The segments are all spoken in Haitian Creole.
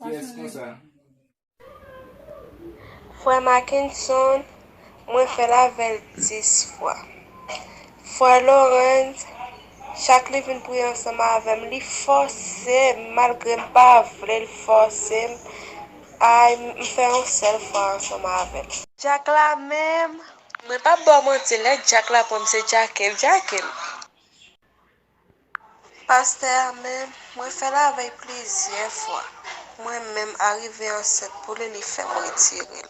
Kiyès konsa? Frè Makenson, mwen fè l avè l 10 fwa. Frè Lorens, chak li vin priye ansanm avè m, li fòse m, malgre m pa vle l fòse m, ay m fè yon sèl fwa ansanm avè l. Dyak la menm, mwen p ap ba w manti, lè dyak la pran m se djake l djake m. Pastè a menm mwen fè lavèy plizyè fwa mwen menm arive ansent pou li li fèm retirel.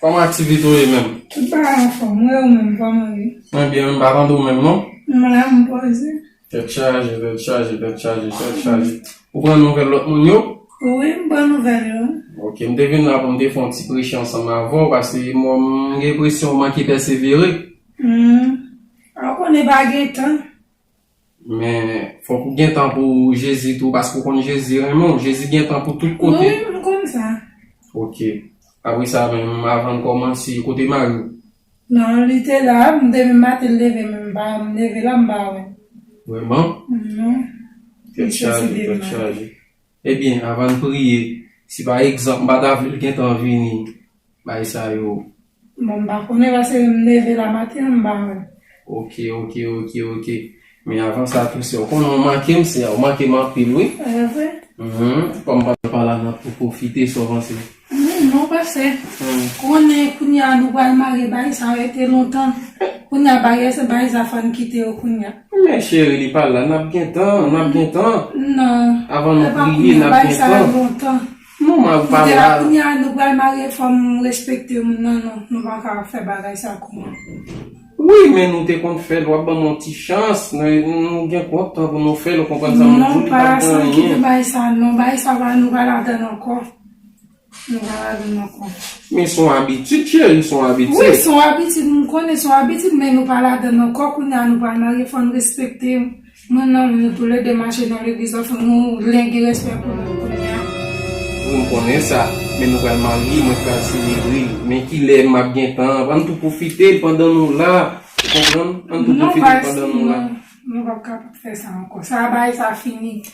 Koman activite ou ye menm? M pa anfom wi ou menm koman ou ye? Mwen byen wi m pa tande ou menm non. M la m poze. Tèt chaje tèt chaje tèt chaje tèt chaje ou pran nouvèl lòt moun yo? Wi m pran nouvèl yo. Ok m te vin la pou m te fè yon ti preche ansanm avè w paske m wè m gen enpresyon ou manke pèsevere. Humm ou konnen pa gen tan. Men fok ou gen tan pou Jezi tou paske ou konn Jezi renmen w. Jezi gen tan pou tout kote. Mwen menm m konn sa. Ok. Apre sa menm avan n komanse, kote mari w? Non, li te la. M te menm maten leve men m pa m leve la m pa wè l. Vreman? Mwen. Tèt chaje, tèt chaje. Ebyen avan n priye si pa egzanp m pa ta vle l gentan vini bay sa yo. Bon m pa konnen paske m leve la maten an m pa wè l. Ok ok ok ok men avan sa tou sè ou konnen ou manke m sè ou manke m anpil wi. Evre? Humm kòm m pa t nan pa la nan pou pwofite sa w panse. Humm non pase konnen kounya nou pral mare bay sa rete lontan kounya bagay se bagay sa fòn kite yo kounya. Men cheri li pa la nap gen tan nap gen tan nan avan nou kriye nap gen tan. Epa kounya bagay sa rete lontan non mwen pa la la kounya nou pral mare fòm respekte moun nan non nou paka fè bagay sa kounya. Wi men nou te konn fèl wap banm yon ti chans nou gen kont tan pou nou fèl ou konprann sa mwen di ou li pa gen anyen. Non pa san kite bagay sa non bagay sa pa nou pa ladann ankò. Men son abitid cheri, son abitid. Wi son abitid m konnen son abitid men nou pa ladann ankò kounye a nou pa marye fò n respekte nou nan nou tou lède mache nan legliz la fò nou len gen respè pou nou kounye a. Wi m konnen sa men nou pral marye mwen pral selebre men kilè m ap gen tan an n tou pwofite pandan nou la ou konprann m. Non pa eskou non nou pap kapab fè sa ankò sa bagay sa fini.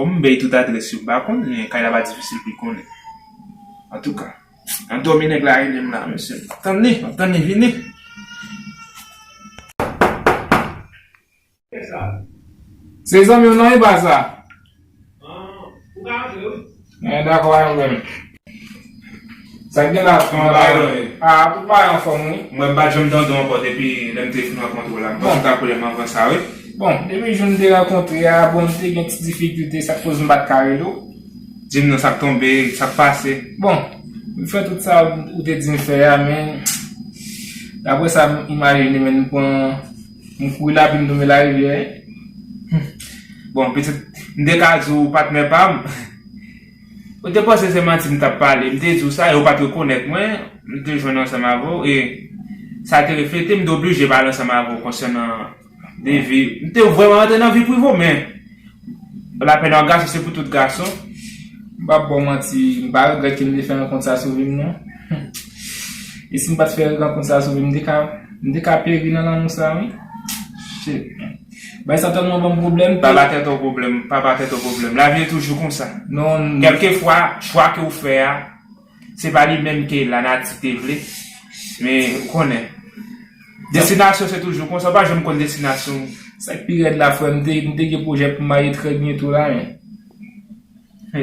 Kòm m bay tout adrès yo m pa konn men kay la pa difisil pou l konnen antouka nan dòmi nèg la rele m la mesye map tann li map tann li vini. Se zanmi w nan iba sa. Ou ka antre wi. Mwen dakò avèw frè m. Sa gen la tout bagay yo anfòm. A tout bagay yo anfòm wi. Mwen m pat janm tande w ankò depi lè m te fin rankontre w la. M panse w ta koule m anvan sa wi. Bon depi jou n te rankontre a bon m te gen ti difikilte sa k koz m pat ka rele w. Di m non sa k tonbe, sa k pase. Bon m fè tout sa ou te di m fè a men daprè sa m imajine men m pran. M kouri la vin nome larivyè Humm Bon pitit m te ka di w patnè pa m Ou te panse se manti m t ap pale M te di w sa e ou pa t rekonèt mwen M te jwenn ansanm avè w e sa te reflete M te oblije pale ansanm avè w konsènan de vi M te vrèman rantre nan vi prive w men La peine en garçon se pou tout gason. M pap baw manti m pa regrèt kem te fè rankont sa sou vim non humm e sim pat fè rankont sa sou vim m te ka m te ka peri nan lanmou sa wi shit man bagay sa tèlman banm pwoblèm pa ba tèt ou pwoblèm pa ba tèt ou pwoblèm lavi e toujou konsa kelke fwa chwa ke ou fè a Se pa li menm ke lanati te vle, men ou konnen. Destinasyon se toujou konsa, ou pa janm konn destinasyon ou. Sa k pi rèd la frè m, m te gen pwojè pou m marye trè byento la men.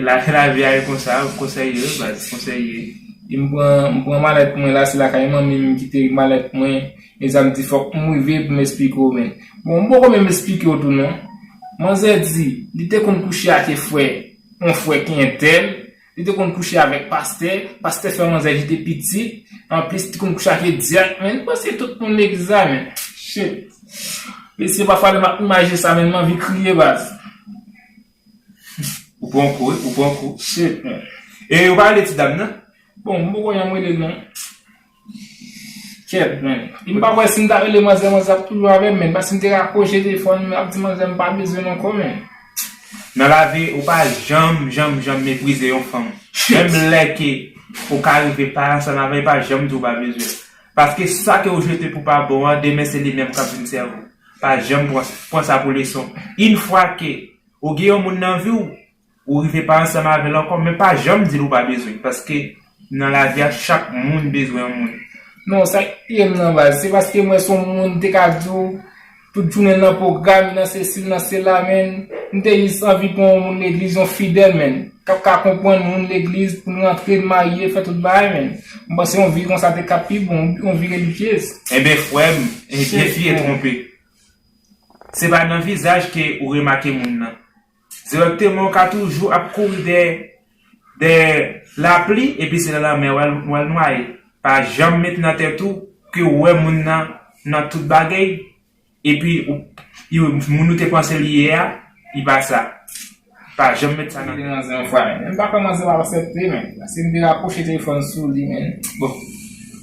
Lavi a e konsa, konsèy yo baz, konsèy yo. E m pran malèt mwen la, se lakay manmi m m kite malèt mwen. E sa m di fòk m rive pou m esplike ou men. Bon m poko menm esplike ou tou non. Manzè di, li te konn kouche ake frè, yon frè ki entèl. Li te konn kouche avèk pastè, pastè fè manzè ki te pitit, anplis li te konn kouche ake dyak men, li panse tout moun legliz la men, shit. Mesye pafwa lè map imajine sa menm manvi kriye baz. Ou pran kou wi, ou pran kou. Shit man. E yo pa rele ti dam nan? Bon m poko wè jan m rele l non. Kèt men, m pa wè si m ta rele manzè manzè ap toujou avè m men pa si m te rakwoche telefòn m ap di manzè m pa bezwen l ankò men. Nan lavi ou pa janm janm janm meprize yon fanm menm lè ke ou ka rive pa ansanm avè l pa janm di ou pa bezwen l paske sa ke ou jete pou pa bon an demen se li menm k ap vin sèvi w pa janm pran sa pou leson yn fwa ke ou gen yon moun nan vi w Ou rive pa ansanm avèl ankò men pa janm dil ou pa bezwenl paske nan lavi a chak moun bezwen yon moun. Non sak tiyem nan baz se paskem wè son moun te ka diw tout jounenl nan pwogram li nan sesi li nan sela menn m te jis anvi pran yon moun legliz yon fidèl menn kap ka konprann moun legliz poun rantre n marye fè tout bagay menn m panse yon vi konsa te ka pi bon wi yon vi relijyez. Enben frèm enbyen fi e twonpe se pa nan vizaj ke ou remake moun nan Dirèkteman ou ka toujou ap kouri dèyè dèyè lapli epi se nan lanmè wal wal nwaye pa janm met nan tèt ou ke ou wè moun nan nan tout bagey epi ou iu moun ou te panse li ye a li pa sa pa janm met sa nan tèt ou. Mwen te nan manzè yon fwa menn pa pran manzè wap asèpte menn paske mte raproche telefòn sou li menn bon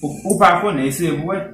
ou pa konnen eseye pou wè.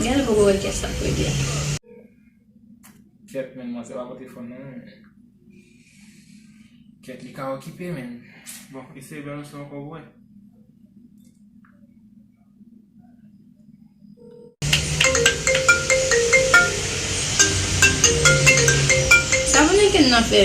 Genlè poko wè kiyès lap rele a. Kèt menn mwen se pa pote fon non menn. Kèt li ka okipe menn. Bon eseye bel leson anko pou mwen. Sa Dominiken nan fe?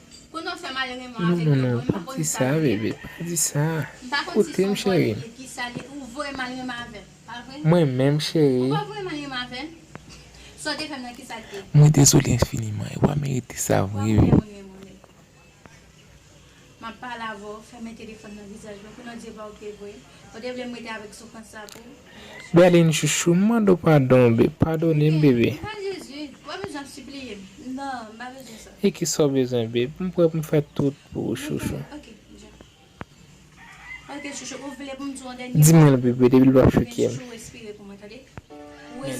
Non non non pa di sa bebe pa di sa koutem cheri mwen menm cheri mwen dezole enfiniman ewa merite sa vre wi. Berline chouchou m mande w padon be padone m bebe. E kisa w bezwen babe m prè pou m fè tout pou ou chouchou. Di mwen l bebe depi l pap choke m.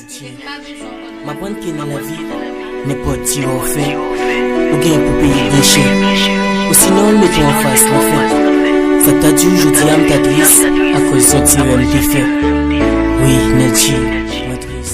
Tchè, m aprann ke nan lavi, nenpòt ti èò w fè, ou gen pou peye byen chè. Osinon m mete w anfas lanfè. Sa k ta di w jodi a m ta tris akòz yon ti erè m te fè. Wi, Nètchi, mwen tris.